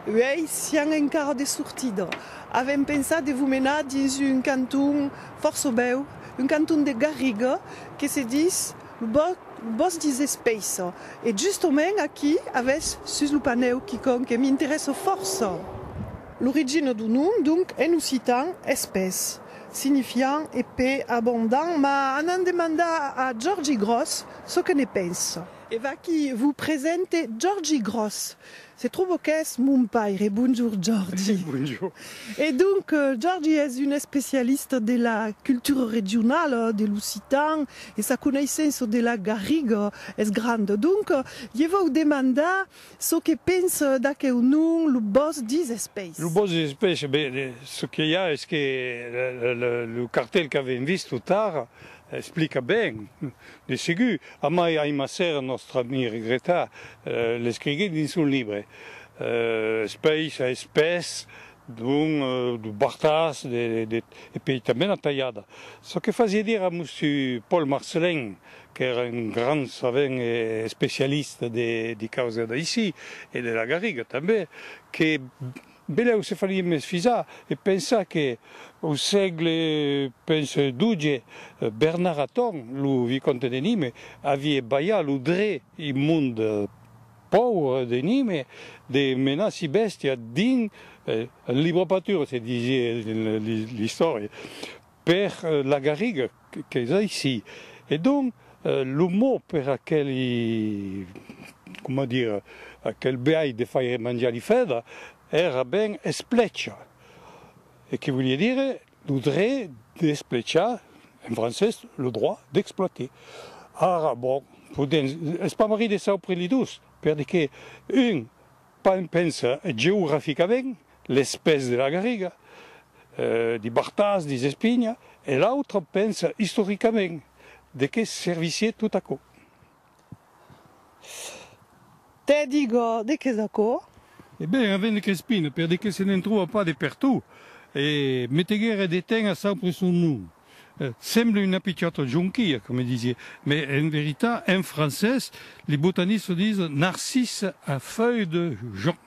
Uèi sián encara de sortida. Avèm pensat de vos menar dins un canton fòrça bèu, un canton de garriga que se dis lo bòs dins Espeissa. E justament aquí avètz sus lo panèu quicòm que m'interèssa fòrça. L'origina du nom, donc, en occitan, espés, signifiant epais, abondant, ma anant demandar a Jordi Gròs çò que ne pensa. E vaquí vos presente Jordi Gròs. Se tròba qu'es mon paire. Bonjour Jordi. Bonjour. E donc, Jordi es un especialista de la cultura regionala, de l'occitan, e sa coneissença de la garriga es granda. Donc, je vòu demandar Çò que penses d'aqueu nom, lo bòsc des Espèis? Lo bòsc des Espèis, ben, çò que i a es que lo cartèl qu'avèm vist tot tard explica ben, de segur. Amai Aimasser, nòstre amic regretat, l'escriguèt dins son libre Espèis a Espès, don de Bartas, de, e pei tanben a Talhada. Çò que fasiá dire a Mussur Paul Marcelin qu'èra un grand savent e especialista de causa d'aicí e de la Garriga tanben, que benlèu se farie mès fisar e pensar que, au sègle, penso, doge, Bernard Aton, lo vicomte de Nîmes, avie balhat lo dret immond pauvre de Nîmes de menar si bèstia dins un libre-patura, se disie dins l'istòria, Per la garriga qu'es aicí. E donc, lo mot per aqueli, coma dire, aquel biais de faire manjar li fèdra, èra ben esplecha, e que volie dire lo dret d'esplechar, en francés, le droit d'exploiter. Ara, bon, podèm espamarrir de çò prenent dos, perque un Pan pensa geograficament, les pès de la garriga, di Bartas, di Zespigna, e l'autre pensa istoricament, de qué servissié tot aquò? Te digo, de qué es aquò? E ben, avèn de Crespina, per de qué se ne'n tròba pas de pertot, e meteguère de ten a saupre son nom. Semble una pichòta jonquia, coma disié, mai en veritat, en francés, li botanistes lo dison narcisse à feuilles de jonc,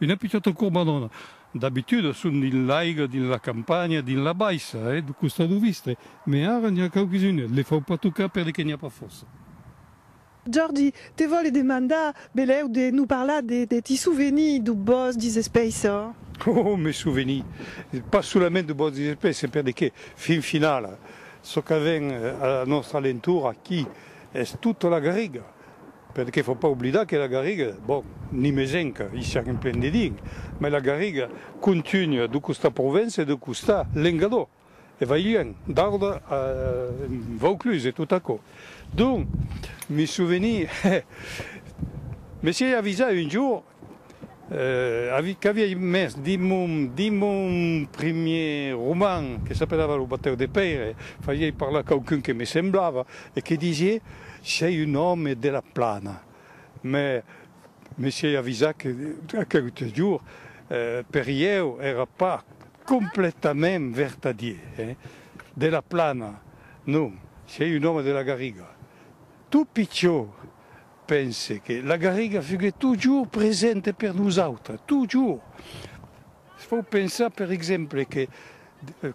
una pichòta corbadona. D'abitude, son dins l'aiga, dins la campanha, dins la baissa, e de costat o vistre, mai ara n'i a quauquisuna, le fau pas tocar per de que n'i a pas fòrça. Jordi, te vòle demandar, belèu, de nous parlar de tes souvenirs du bòsc dis Espèisses. Oh, mes souvenirs! Pas solament du bòsc dis Espèisses, perdeque, fin finala, çò qu'avèm a nòstra lentura aquí es tota la Garriga, perdeque fò pas oblidar que la Garriga, bon, nimés enca, i siam en plen dedinc, mai la Garriga contunha de costat Provença e de costat Lengador. e vai luènh, Darda en Vaucluse e tot aquò. Donc, me souveni, hè, me siei avisat un jour, avi, qu'aviei mès dins mon, dins mon primièr roman, que s'apelava Lo batèu de Pèire, fasiei parlar quauqu'un que me semblava e que disiei, Sei un òme de la Plana. Mès me siei avisat que, aqueu jour, per ieu èra pas Completament vertadier, hè? De la Plana, non, sei un òme de la Garriga. Tot pichó, pense que la Garriga fuguet totjorn presente per nosautres, totjorn. Se fau pensar, per exemple, que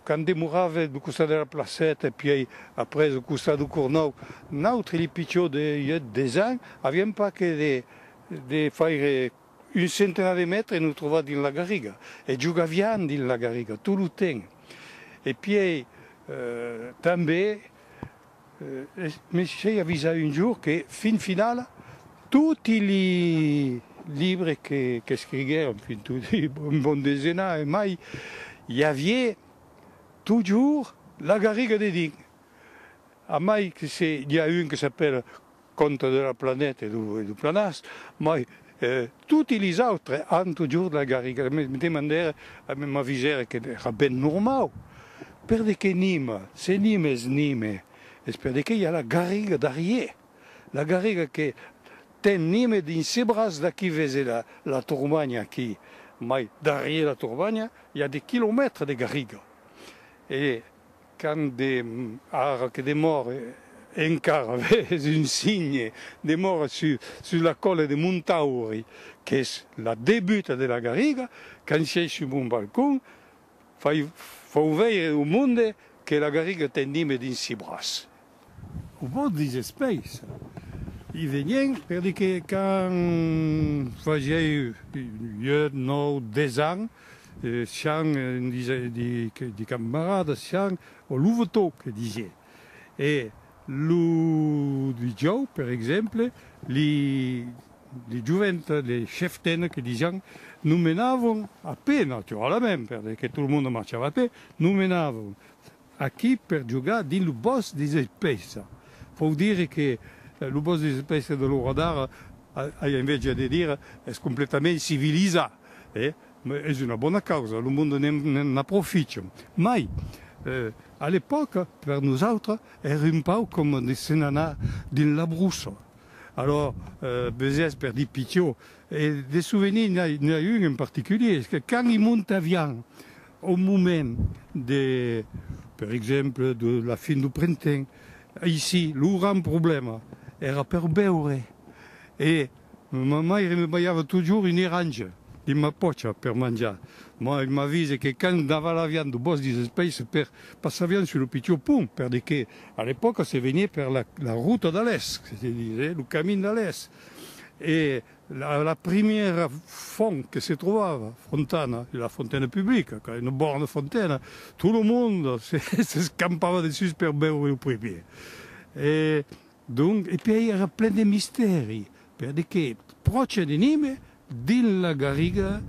quand demorave lo costat de la Placeta e pièi après lo costat do Cornòu, nautres, li pichó de 8-10 ans, aviam pas que de faire Un centenat de mètres nos trobà dins la garriga e jogavián dins la garriga tot lo temps. E pièi tanben m'esquei avisar un jorn que fin finala toti li libres qu'escriguèron, fin toti, un bon desenar e mai, i avié totjorn la garriga dedins. A mai que se n'i a un que s'apèla Conte de la planèta e du planàs, mai toti lis autres an totjorn la garriga, me demandèra a me m'avisèra que èra ben normau, per de que nima, se nima es nima, es per de que i a la garriga darrier, la garriga que ten nima dins se braç d'aquí vese la turbanha aquí, mai darrier la turbanha i a de quilomètres de garriga e. Quand de ara que demòre encara ves un signe, demòre sus la còla de Montauri, qu'es la debuta de la Garriga, quand sièi sus mon balcon, fau veire au monde que la Garriga ten dime dins si braç. O vòt dins espais. I venien per dire que quand fasiái 8, 9, 10 ans, sián de camaradas, sián o lo votó que disié. E lo dijòu, per exemple, li jovent de Cheftaine que disián, nomenavon a pè, naturalament, per dire que tot lo monde marchava a pè, nomenavon Aquí per jogar dins lo bòsc de Zespèisa. Vòu dire que lo bòsc de Zespèisa de l'ora d'ara, ai enveja de dire, es completament civilizat. E es una bona causa, lo monde ne'n aproficha. Mai, a l'epòca, per nosautres, èra un pauc coma de se'n anar dins la brussa. Alòrs, besiás per dir pichó. E de souvenirs, n'i a un en particulier, es que quand i montavián Au moment de, per exemple, de la fin du printemps, aicí, lo grand problèma èra per beure e ma maire me balhava totjorn un eranja dins ma pòcha per manjar. Mai m'avise que quand n'avalavián de bòs dins es pais per passavián sus lo pichon pont, perque que a l'epòca se venié per la, la ruta de l'Èst, que se dise, lo camin de l'Èst, e La primièra font que se trobava, fontana, la fontaine publica, qu'a una bona fontena, tot lo monde s'escampava dessús per beure lo primièr. E donc, e puèi èra plen de mistèri, per de que pròche de Nîmes, dins la garriga,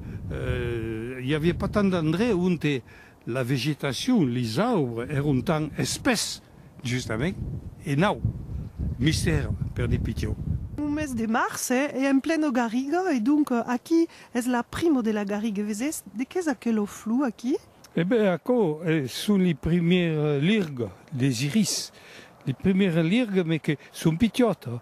i aviá pas tant d'endrech onte La vegetacion, les aubres èron tan espès, justament, e nau, mistèr per de pichó. Lo mes de març e en pleno garriga e donc aqui es la primo de la garriga, vesés? De qu'es aquelo flou aquí? E ben aquò son li primièrs lirga des iris, li primièrs lirga, mes que son pichòta,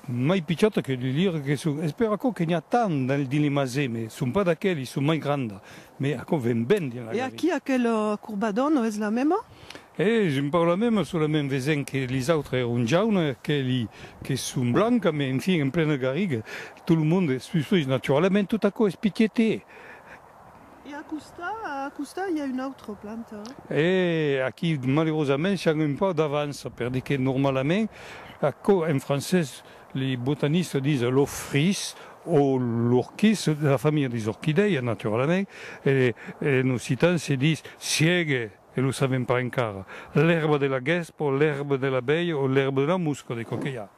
Mai pichòta que li lire que son, es per aquò que n'i a tant dins li masè, me son pas d'aquelis, son mai granda, me aquò ven ben dins la galè. E aquí aquela corbador non es la mema? E j'en pau la mema, solament vesent que lis autres èron jauna e aqueli que son blanca, me enfin en plena garriga, tot lo monde es susfrich naturalament, tot aquò es pichète. E a costa, a costa i a una autra planta? E aquí malerosament siam un pauc d'avança perque normalament aquò en francés li botanistas dison lo fris o l'orquís, de la familha des orquidèias naturalament, e en occitan se dis siègue e lo savèm pas encara, l'èrba de la gèspa o l'èrba de l'abelha o l'èrba de la mosca de coquelhar.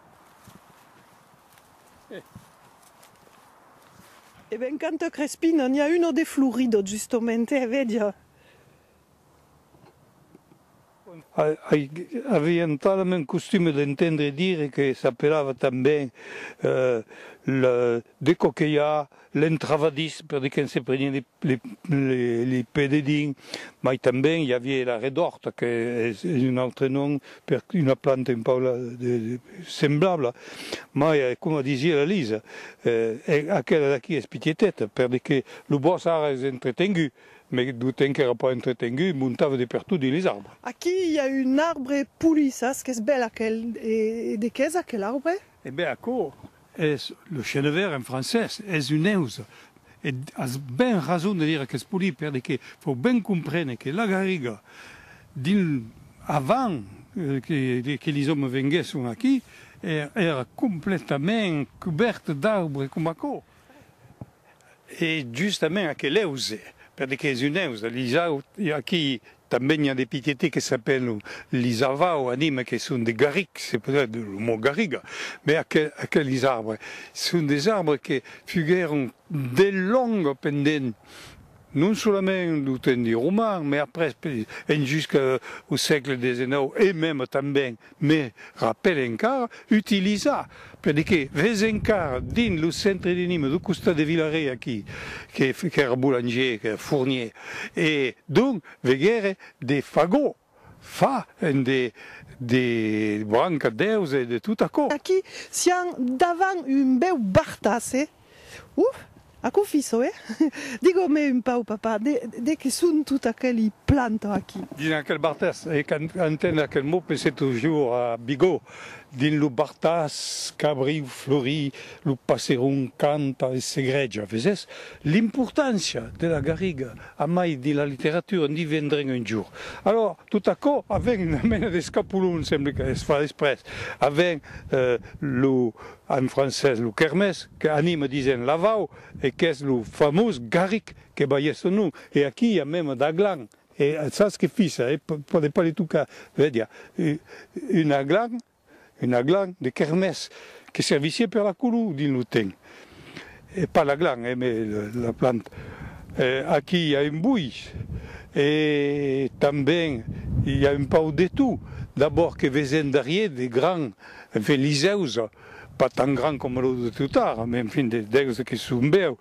E ben canta crespina, n'i a uno de florido justomente, e vedia. Avián pas la mèn costume d'entendre dire que s'apelava tanben le decoquelhar, L'entrava dins, per de que'n se prenián li pede dins, mai tanben i avié la redòrta que es un autre nom per una planta un pauc semblabla, mai coma disié la Lisa, aquela d'aquí es pitieteta, per de que lo bòsc ara es entretengut, me lo temps qu'èra pas entretengut montava de pertot dins les arbres. Aquí i a un arbre polissas qu'es bèl aquel, e de qué es aquel arbre? E ben aquò es le chenevert en francés, es un eus. E as ben rason de dire qu'es polit perque fau ben comprene que la garriga dins avant que lis òmes venguèsson aquí èra completament cubèrta d'arbre coma aquò. E justament aquel eus, perque es un eus, l'isau, aquí tanben i a de piquetets que s'apèlan l'isavau, anima que son de garric, se podrà de lo mot garriga, mai aqueles arbres son des arbres que fuguèron de long pendent, Non solament lo tendi roman, mai après en jusca au sègle desenòu e mèm tanben me rapèle encara, utilizar, per dire que ves encara dins lo centre de Nîmes, do costat de Villaret aquí, qu'èra boulanger, qu'èra fournier, e donc veguère de fagots. Fa en de de branca deus e de tot aquò. Aquí sián davant un bèu bartasse. Ouh! Aquò fiso, eh? Digo-me un pauc, papa, de de qué son tot aqueli planta aquí? Dins aquel bartas, e quand entend aquel mot pense toujours a Bigot, dins lo bartas qu'abriu flori, lo passeron canta e segreja, vesés? L'importància de la garriga, A mai de la literatura, en divendrem un jorn. Alòra, tot aquò aven una mena d'escapolon, semble qu'es fach exprès. Aven lo, en francés, lo Kermés, qu'anima disent Lavau, e qu'es lo famós Garric que balhèt son nom. E aquí i a mèma d'aglan. E sas que fissa, eh? Pòde pas le tocar, vèdia, un aglan Una glan de kermès que servissié per la color dins lo temps. Pas la glan, eh, mais la planta. Aquí i a un bois e tanben i a un pauc de tot. D'abord que vesèm darrier de gran Veliseus, pas tant gran coma lo de Tutara, mais enfin de dèus que son bèus.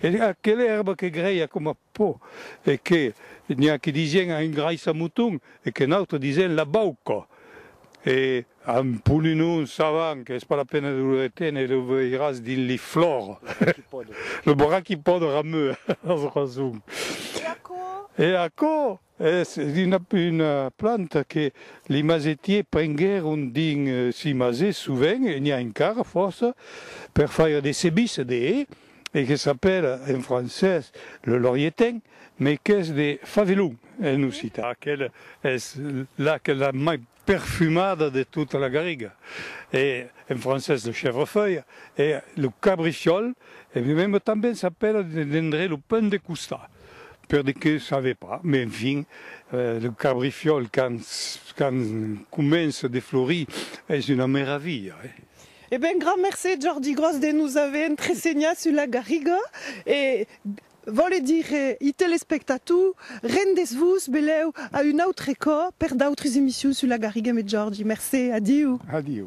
E aquela èrba que grèia coma Po, e que n'i a que disien a engraissa moton e que n'autre disien la bauca. E un poninon savan qu'es pas la pena de lo reténer, lo veiràs dins li flors. Lo braquipòde. Lo braquipòde rameu, as rason. E aquò? E aquò? Es una planta que li mazetiers prenguèron dins si mazes sovent, e n'i a encara fòrça, per faire de cebisses de hè, e que s'apèla en francés le laurietain, mai qu'es de favelon en occitan. Aquela es la que la mai perfumada de tota la garriga, e en francés le chèvrefeuille, e lo cabriciòl, e meme tanben s'apèla dendrè lo pain de costat, per de que save pas, mais enfin, lo cabriciòl quand quand comença de florir es una meravilha, eh! E ben, grand mercé Jordi Gros de nos ave entresenhat sus la garriga e Vòle dire, i telespectatou, rendés-vos belèu a un autre còp per d'autres emissions sus la Garriga Me Jòrgi. Mercé. Adiu. Adiu.